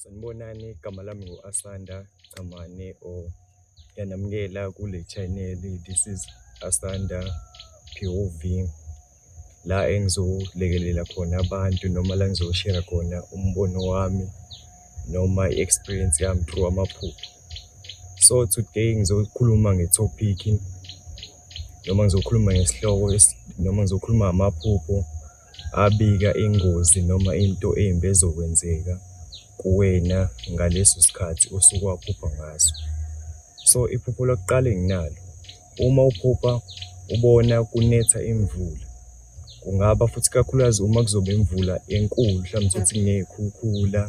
Sanibonani igama lami ngu-Asanda Chamane or yanamukela kule channel this is Asanda POV la engizolekelela khona abantu noma la ngizoshare khona umbono wami noma i-experience yami through amaphupho so today ngizokhuluma nge-topic noma ngizokhuluma ngesihloko noma ngizokhuluma ngamaphupho abika ingozi noma into embi ezokwenzeka kuwena ngaleso sikhathi osuke waphupha ngaso. So iphupho lokuqala enginalo, uma uphupha ubona kunetha imvula, kungaba futhi ikakhulukazi uma kuzoba imvula enkulu, mhlawumbe uthole ukuthi kuney'khukhula.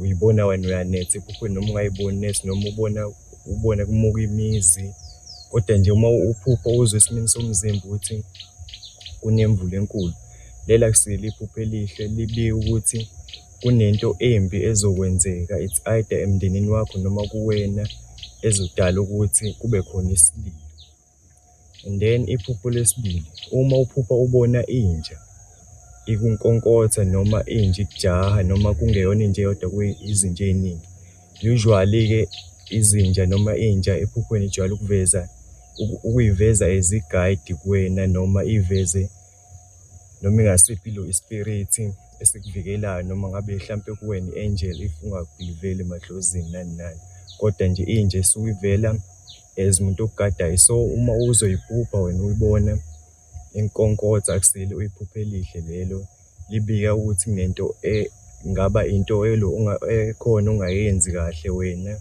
uyibona wena uyanetha iphupho noma ungayiboni nethi noma ubona ubona kumuka imizi kodwa nje uma uphupho uzwe esimini somzimba ukuthi kunemvula enkulu lela kusile iphupho elihle libike ukuthi kunento embi ezokwenzeka it's either emndenini wakho noma kuwena ezodala ukuthi kube khona isililo And then iphupho lesibili uma uphupha ubona inja ikunkonkotha noma inja ikujaha noma kungeyona inja eyodwa kuyizinja ey'ningi. Usually-ke izinja noma inja ephuphweni ijwayele ukuveza ukuyiveza as i-guide kuwena noma iyiveze noma ingasiphi ilo i-spirit esikuvikelayo noma ngabe hlampe kuwena i-angel if ungakuyiveli emadlozini nani nani. Kodwa nje inja esuke ivela as umuntu okugadayo so uma uzoyiphupha wena uyibone inkonkotha akusile uyiphuphe elihle lelo libika ukuthi kunento e, ngaba into elo ekhona ongayenzi kahle wena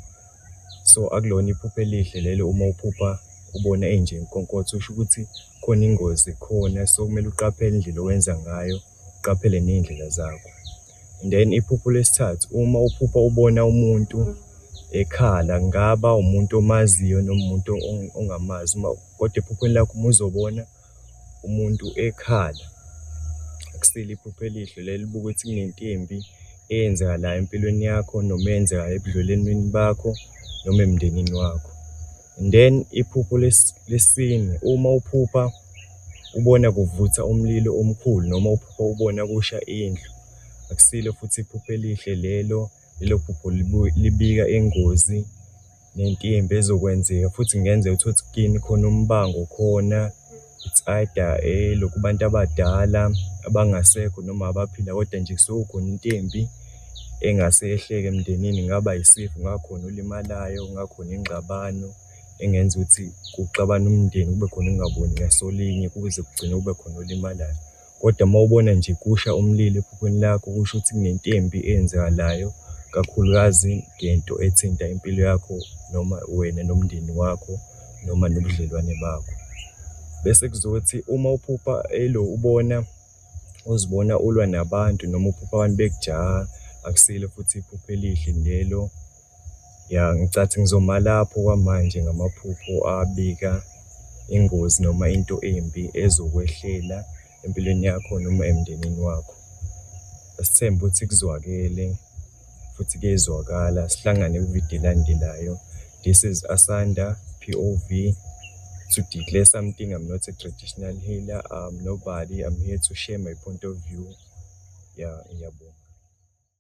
so akulona iphupha elihle lelo uma uphupha ubona enje inkonkotha usho ukuthi khona ingozi khona so kumele uqaphele indlela owenza ngayo uqaphele ney'ndlela zakho. And then iphupho lesithathu, uma uphupha ubona umuntu ekhala, kungaba umuntu omaziyo noma umuntu ongamazi, kodwa ephuphweni lakho uma uzobona umuntu ekhala, akusile iphupho elihle leli, libuke ukuthi kunento embi eyenzakalayo empilweni yakho noma eyenzekayo ebudlelweneni bakho noma emndenini wakho. And then iphupho lesine, uma uphupha ubona kuvutha umlilo omkhulu noma uphupha ubona kusha indlu, akusilo futhi iphupho elihle lelo. Lelo phupho libika ingozi nentimba ezokwenzeka futhi kungenzeka uthole ukuthi kini khona umbango khona. Insada elokhu abantu abadala abangasekho noma abaphila kodwa nje kusuke khona into embi engase yehleke emndenini kungaba yisifo kungakhona olimalayo kungakhona ingxabano engenza ukuthi kuxabane umndeni kube khona ukungaboni ngasolinye kuze kugcine kube khona olimalayo. Kodwa uma ubona nje kusha umlilo ephuphweni lakho kusho ukuthi kunentembi eyenzakalayo kakhulukazi ngento ethinta impilo yakho noma wena nomndeni wakho noma nobudlelwane bakho. Bese kuzothi uma uphupha elo ubona uzibona ulwa nabantu noma uphupha abantu bekujaha akusilo futhi iphupho elihle lelo Ya ngicathi ngizoma lapho kwamanje ngamaphupho abika ingozi noma into embi ezokwehlela empilweni yakho noma emndenini wakho. Asithembe ukuthi kuzwakele futhi kuyezwakala sihlangane kwividiyo elandelayo. This is Asanda POV to declare something. I'm not a traditional healer. I'm nobody. I'm here to share my point of view. Yeah, ngiyabonga.